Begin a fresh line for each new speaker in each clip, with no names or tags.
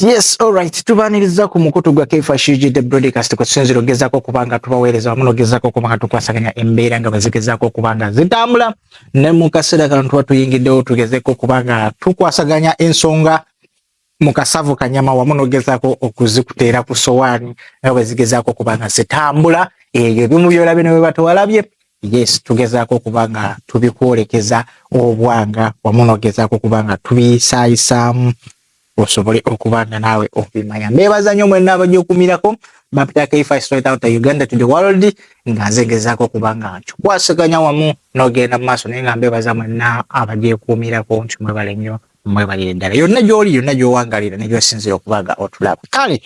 Yes, all right. Tubaniriza ku mukutu gwa Kaifa Shiji the broadcast kwa sinziro gezako kubanga tubawereza wamuno gezako kubanga tukwasaganya embera nga bazigezako kubanga zitambula ne mukasira kantu watu yingi deo tugezeko kubanga tukwasaganya ensonga mukasavu kanyama wamuno gezako okuzikutera ku sowani nga bazigezako kubanga zitambula eyo bimu byolabe ne webato walabye Yes tugezaako okuba nga tubikwolekeza obwanga wamu nogezaako okuba nga tubiyisaayisaamu osobole okuba nga naawe obimanya mbeebaza nnyo mwenna abajokumirako bapita kfis right out uganda to the world nga nze ngezaako okuba nga nkikwasiganya wamu nogenda mu maaso naye nga mbeebaza mwenna abagyekuumirako nti mwebale nnyo mwebalire ddala yonna gyoli yonna gyowangalira negyosinzira okuba nga otulaba kale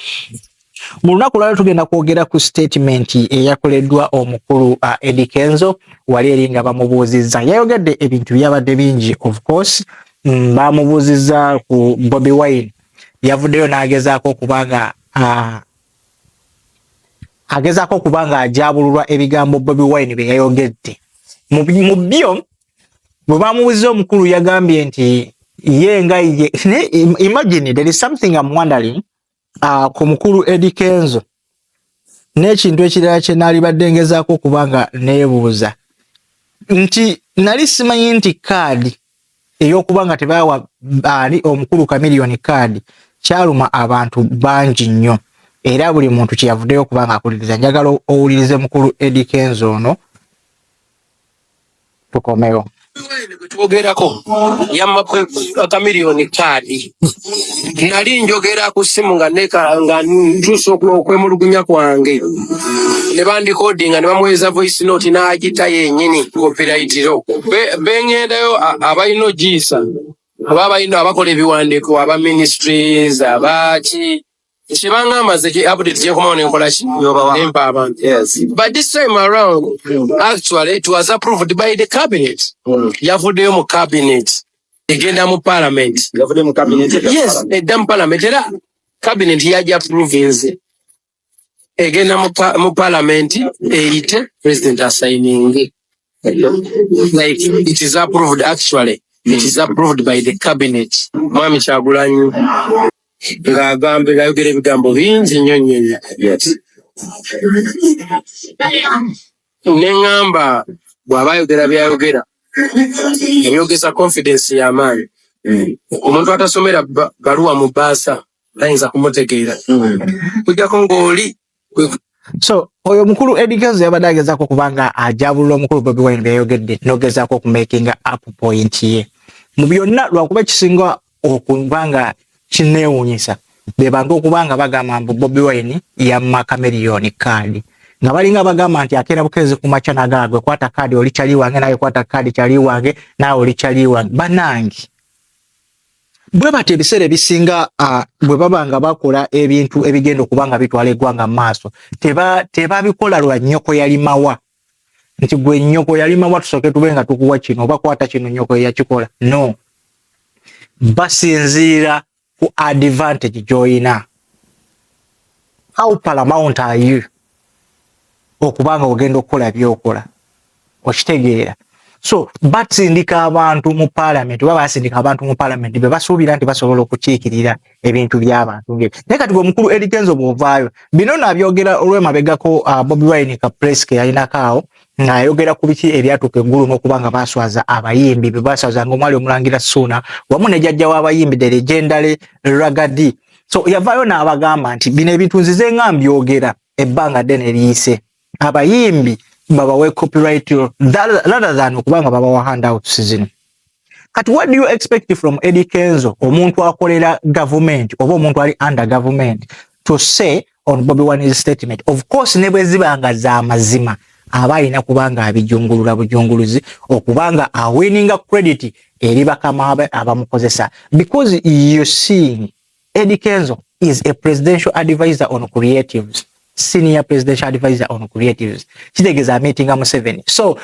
Mu lunaku lwalero tugenda kwogera ku sitatimenti eyakoleddwa omukulu uh, Eddie Kenzo wali eri nga bamubuuzizza. Yayogedde ebintu byabadde bingi of course mm, bamubuuzizza ku Bobi Wine yavuddeyo n'agezaako okuba nga uh, agezaako okuba nga ajabululwa ebigambo Bobi Wine bye yayogedde mu byo bwe bamubuuzizza omukulu yagambye nti ye nga ye imagine there is something I'm wondering uh, ku mukulu Eddie Kenzo n'ekintu ekirala kye naalibadde ngezaako okuba nga neebuuza nti nali simanyi nti kaadi ey'okuba nga tebaawa baali omukulu kamiliyoni kaadi kyaluma abantu bangi nnyo era buli muntu kyeyavuddeyo okuba nga akuliriza njagala owulirize mukulu Eddie Kenzo ono tukomewo twogerako
yamma kamiliyoni kaadi nali njogera ku ssimu nga neka nga ntuusa okwemulugunya kwange ne bandikodinga ne bamuweeza voice note n'agita yennyini kopirayitiro bengendayo abalina ogiisa aba abalina abakola ebiwandiiko aba ministries abaaki Kibanga maze ki update je kuma ne nkola ki nempa abantu. Yes. But this time around actually it was approved by the cabinet. Mm. Yavuddeyo mu cabinet. Egenda mu parliament. Yavuddeyo mu cabinet. Yes, edda mu parliament era cabinet yaja approve nze. Egenda mu parliament eyite president assigning. like it is approved actually it is approved by the cabinet mwami kyagulanyi ng'agamba ngayogera ebigambo bingi nnyo nnyo ne ŋŋamba bw'aba ayogera by'ayogera ebyogeza confidence y'amaanyi omuntu atasomera baluwa mu bbaasa tayinza kumutegeera kujjako ng'oli so
oyo mukulu Eddy Kenzo yabadde agezaako okuba nga ajabulula omukulu Bobi Wine byeyogedde n'ogezaako okumakinga up point ye mu byonna lwakuba ekisinga okuba nga kineewunyisa be bantu okuba nga bagamba mbu Bobi Wine yamma Chameleone kaadi nga balinga bagamba nti akeera bukeezi ku makya nagaagwe kwata kaadi oli kyali wange naye kwata kaadi kyali wange naawe oli kyali wange banange bwe batyo ebiseera ebisinga bwe baba nga bakola ebintu ebigenda okuba nga bitwala eggwanga mu maaso tebabikola lwa nnyoko yalimawa nti gwe nnyoko yalimawa tusooke tube nga tukuwa kino oba kwata kino nnyoko eyakikola no basinziira ku advantage gy'olina how paramount are you okuba nga ogenda okukola byokola okitegeera so basindika abantu mu palamenti oba basindika abantu mu palamenti be basuubira nti basobola okukiikirira ebintu by'abantu nge naye kati omukulu erigenzo bw'ovaayo bino nabyogera olwemabegako uh, bobi wine ka press ke yalinako awo ng'ayogera ku biki ebyatuuka eggulu n'okuba nga baaswaza abayimbi be baaswaza nga omwali omulangira suuna wamu ne jajja w'abayimbi de legendary ragadi so yavaayo n'abagamba nti bino ebintu nzize nga mbyogera ebbanga ddene liyise abayimbi babawe copyright rather than okuba nga babawa handouts zino kati what do you expect from Eddie Kenzo omuntu akolera government oba omuntu ali under government to say on Bobby Wine's statement of course ne bwe ziba nga za mazima aba alina kuba nga abijungulula bujunguluzi okuba nga awininga credit eri bakama abamukozesa because you seeing Eddie Kenzo is a presidential advisor on creatives senior presidential advisor on creatives kitegeeza meetinga Museveni so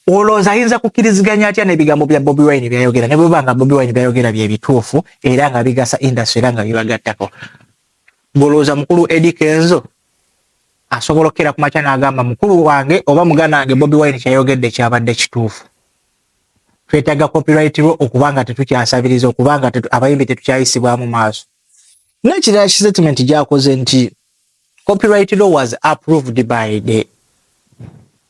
olowooza ayinza kukiriziganya atya n'ebigambo bya Bobi Wine byayogera ne bweba nga Bobi Wine byayogera bye bituufu era nga bigasa industry era nga bibagattako ngolowooza mukulu Eddie Kenzo asobola okukera ku makya n'agamba mukulu wange oba mugana wange Bobi Wine kyayogedde kyabadde kituufu twetaga copyright lwo okubanga tetukyasabiriza okubanga tetu, abayimbi tetukyayisibwamu maaso nekirala statement gyakoze nti copyright law was approved by the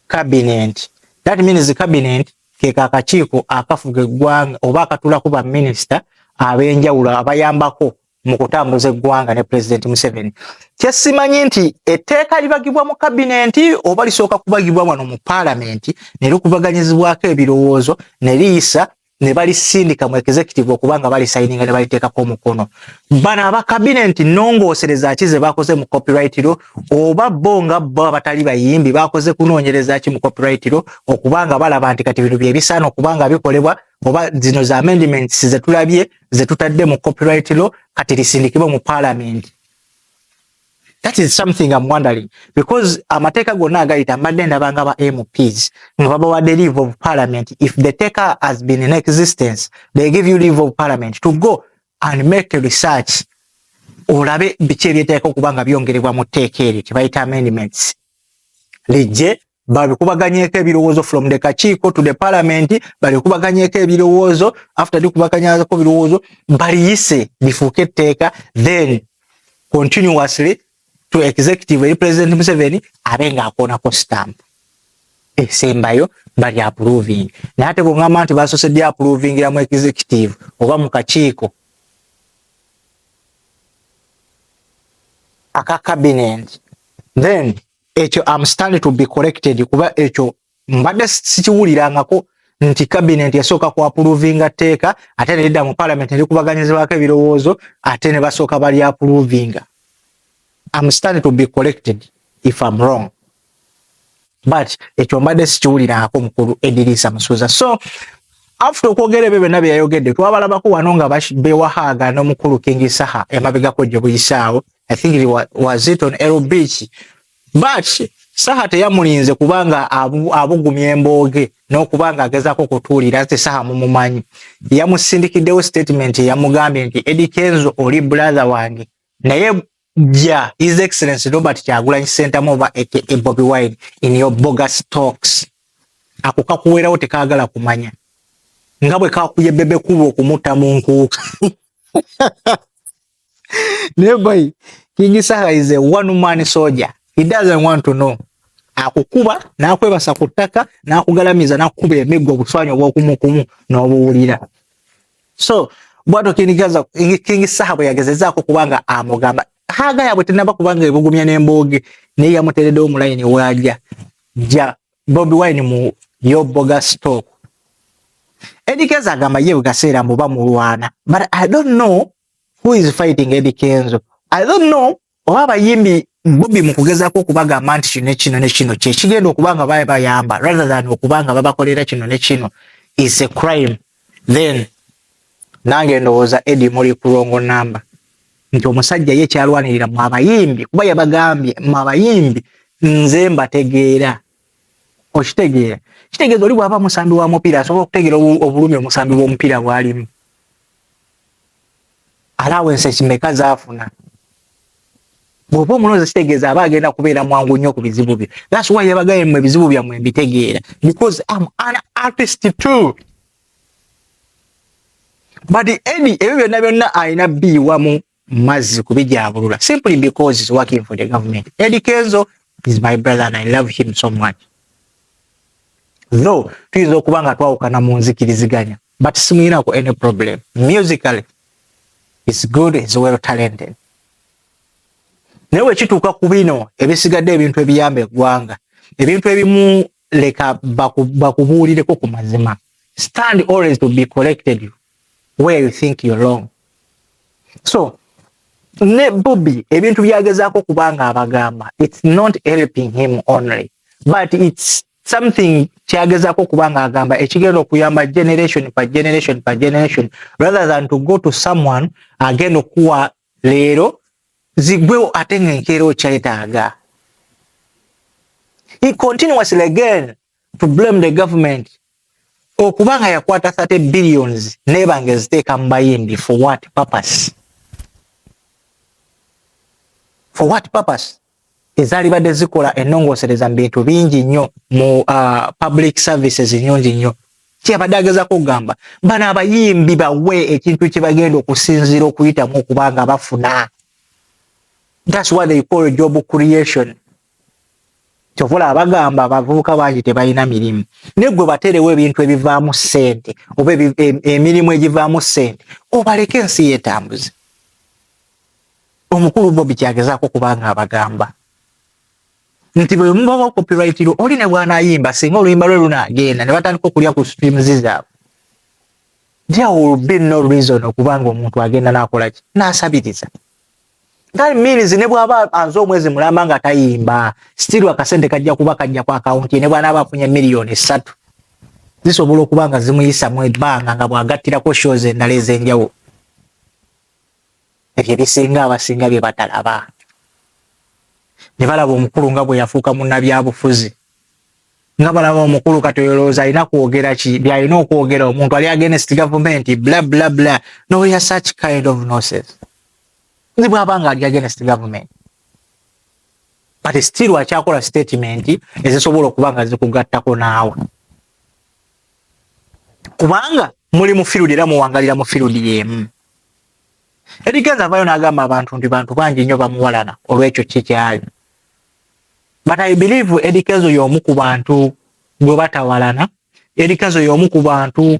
cabinet that means the cabinet keka akakiiko akafuga eggwanga oba akatulako ba minisita abenjawulo abayambako mu kutambuza eggwanga ne pulezidenti Museveni. Kyesimanyi nti etteeka libagibwa mu kabinenti oba lisooka kubagibwa wano mu paalamenti ne likubaganyizibwako ebirowoozo ne liyisa ne balisindika mu executive okuba nga balisayininga ne baliteekako omukono. Bano aba kabinenti nnongoosereza ki ze bakoze mu copyright law oba bo nga bo abatali bayimbi bakoze kunoonyereza ki mu copyright law okuba nga balaba nti kati bino bye bisaana okuba nga bikolebwa oba zino za amendments ze tulabye ze tutadde mu copyright law kati lisindikibwe mu parliament that is something I'm wondering because amateeka gonna agayita mbadde ndaba nga ba MPs nga babawadde leave of parliament if the taker has been in existence they give you leave of parliament to go and make research olabe biki ebyeteeka okuba nga byongerebwa mu tteeka eryo kyebayita amendments lijje babikubaganyeko ebirowoozo from the kakiiko to the parliament babikubaganyeko ebirowoozo after dikubaganyako ebirowoozo baliyise bifuuke etteeka then continuously to executive eri president museveni abe nga akoonako stamp esembayo bali approving naye ate bwongamba nti basose di approvingira mu executive oba mu kakiiko aka cabinet then ekyo am standing to be corrected kuba ekyo mbadde sikiwulirangako nti cabinet yasooka ku approvinga tteeka ate nelidda mu parliament nelikubaganyizibwako ebirowoozo ate ne basooka bali approvinga am standing to be corrected if am wrong but ekyo mbadde sikiwulirangako mukulu ediriisa musuuza so after okwogera ebyo byonna bye yayogedde twabalabako wano nga bewahaaga n'omukulu kingi saha emabegako gye buyisaawo I think it was, was it on L Beach but saha teyamulinze kubanga abugumya embooge n'okubanga agezaako okutuulira nti saha mumumanyi yamusindikiddewo statement yamugambye nti Eddie Kenzo oli brother wange naye ja his excellence Robert Kyagulanyi Ssentamu oba aka Bobi Wine in your bogus talks ako kakuweerawo tekaagala kumanya nga bwe kakuye bebe kuba okumutta mu nkuuka naye boy King Saha is a one man soldier he doesn't want to know akukuba nakwebasa ku ttaka nakugalamiza nakukuba emiggo obuswanyi obwokumukumu n'obuwulira so bwato kindigaza King Saha bwe yagezezaako kubanga amugamba haga yabwe tenaba kubanga ebugumya n'embooge naye yamuteereddewo mu layini waaja ja Bobi Wine mu yo boga stock. Eddie Kenzo agamba ye gaseera mbu bamulwana. But I don't know who is fighting Eddie Kenzo. I don't know oba abayimbi Bobi mu kugezaako okubagamba nti kino kino ne kino kye kigenda okuba nga baye bayamba rather than okuba nga babakolera kino ne kino is a crime. then nange ndowooza edi muli kulongo namba nti omusajja ye kyalwanirira mu abayimbi kuba yabagambye mu abayimbi nze mbategeera okitegeera kitegeeza oli bwaba musambi wa mupiira asobola okutegeera obulumi omusambi bw'omupiira bwalimu alawensi ekimeka zaafuna bwoba omulonzi kitegeeza aba agenda kubeera mwangu nnyo ku bizibu byo thats why yabagaye mwe ebizibu byammwe mbitegeera because am an artist too but edi ebyo byonna byonna alina biiwamu mazzi kubijaabulula simply because is working for the government edi kenzo is my brother and i love him so much though tuyinza okuba nga twawukana mu nzikiriziganya but simuyinako any problem musically is good is well talented naye wekituuka ku bino ebisigadde ebintu ebiyamba eggwanga ebintu ebimu leka bakubuulireko ku mazima stand always to be collected where you think you're wrong so ne bobi ebintu byagezaako kubanga abagamba it's not helping him only but it's something kyagezako kubanga agamba ekigenda okuyamba generation pa generation pa generation rather than to go to someone agenda okuwa leero zigwewo ate nga enkeera okyetaaga he continuously again to blame the government okuba nga yakwata 30 billions neba nga eziteeka mu bayimbi for what purpose for what purpose ezalibadde zikola enongosereza mu bintu bingi nnyo mu uh, public services nyungi nnyo kyabadde agezako okugamba bano abayimbi bawe ekintu kyebagenda okusinziira okuyitamu okubanga bafuna thats what they call job creation kyovola abagamba abavubuka bangi tebalina mirimu naye gwe baterewo ebintu ebivaamu ssente oba emirimu egivaamu ssente obaleke ensi yetambuze omukulu bobi kyagezaako kubanga abagamba nti bwe mubawa copyrightiro oli ne bwanayimba singa oluyimba lwe lunagenda ne batandika okulya ku streams zaabwe there will be no reason okubanga omuntu agenda nakolaki nasabiriza That means ne bwaba anze omwezi mulamba nga tayimba still akasente kajja kuba kajja kwa account ne bwana abafunye million 3 zisobola okuba nga zimuyisa mu ebbanga nga bwagattirako shows endala ez'enjawulo ebyo ebisinga abasinga bye batalaba ne balaba omukulu nga bwe yafuuka munnabyabufuzi nga balaba omukulu kati oyolowooza alina kwogera ki byalina okwogera omuntu ali against gavumenti bla bla bla noya such kind of noses nze bwaba nga ali against government but still akyakola statement ezisobola okuba nga zikugattako naawe kubanga muli mu field era muwangalira mu field yemu erigenza avayo nagamba abantu nti bantu bangi nnyo bamuwalana olwekyo kikyali but i believe erikenzo yomu ku bantu gwe batawalana erikenzo yomu ku bantu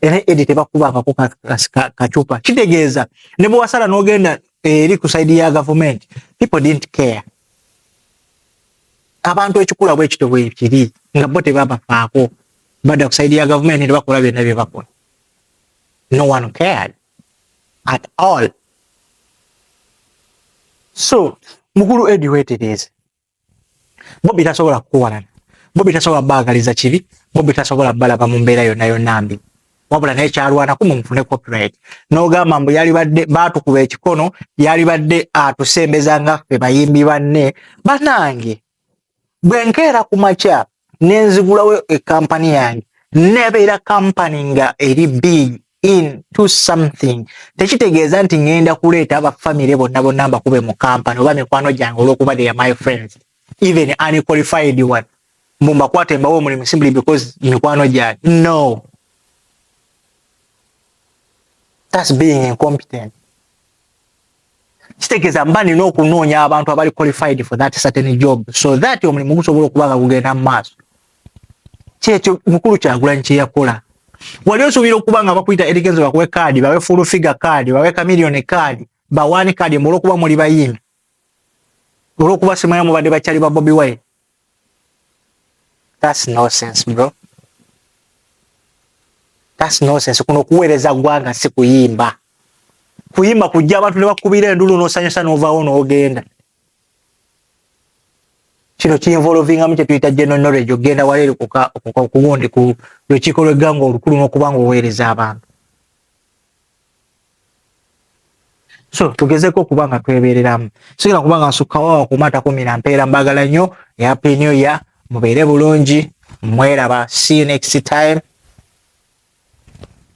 era edi tebakubangako kacupa kitegeeza ne bwewasala nogenda eri ku saidi ya gavumenti people didn't care abantu ekikula bwekito bwekiri nga bo tebabafaako badda ku saidi ya gavumenti nebakola byonna byebakola no one cared at all so mukulu edi wetereeze bobi tasobola kukuwalana bobi tasobola baagaliza kibi bobi tasobola balaba mu mbeera yonna yonna mbi wabula naye kyalwanako mumufune copyright n'ogamba mbu yalibadde baatukuba ekikono yalibadde atusembeza nga ffe bayimbi banne banange bwenkeera ku makyapa nenzigulawo ekampani yange nebeera kampani nga eri big in to something tekitegeeza nti ngenda kuleeta abafamire bonna bonna mbakube mu kampani oba mikwano gyange olwokuba they are my friends even unqualified one mbu mbakwate mbawo omulimu simply because mikwano gyange no that's being incompetent kitegeeza mba nina okunoonya abantu abali qualified for that certain job so that omulimu gusobola okuba nga gugenda mu maaso kyekyo mukulu kyagulanyi kyeyakola wali osuubira okuba nga bakuyita erigenze bakuwe kaadi bawe full figure kaadi bawe kamiliyoni kaadi bawaani kaadi mbu olwokuba muli bayimbi olwokuba simanya mubadde bakyali ba bobi wine That's nonsense bro. That's nonsense. Kuno kuweereza ggwanga si kuyimba. Kuyimba kujja abantu ne bakubira endulu n'osanyusa n'ovaawo n'ogenda. Kino kinvolovingamu kye tuyita general knowledge okugenda wala eri kuwundi ku lukiiko lw'eggwanga olukulu n'okuba ng'oweereza abantu. so tugezeko okuba nga twebereramu sigala kuba nga nsukkawo kumata kumira mpeera mbagala nnyo happy new year mubeere bulungi mweraba see you next time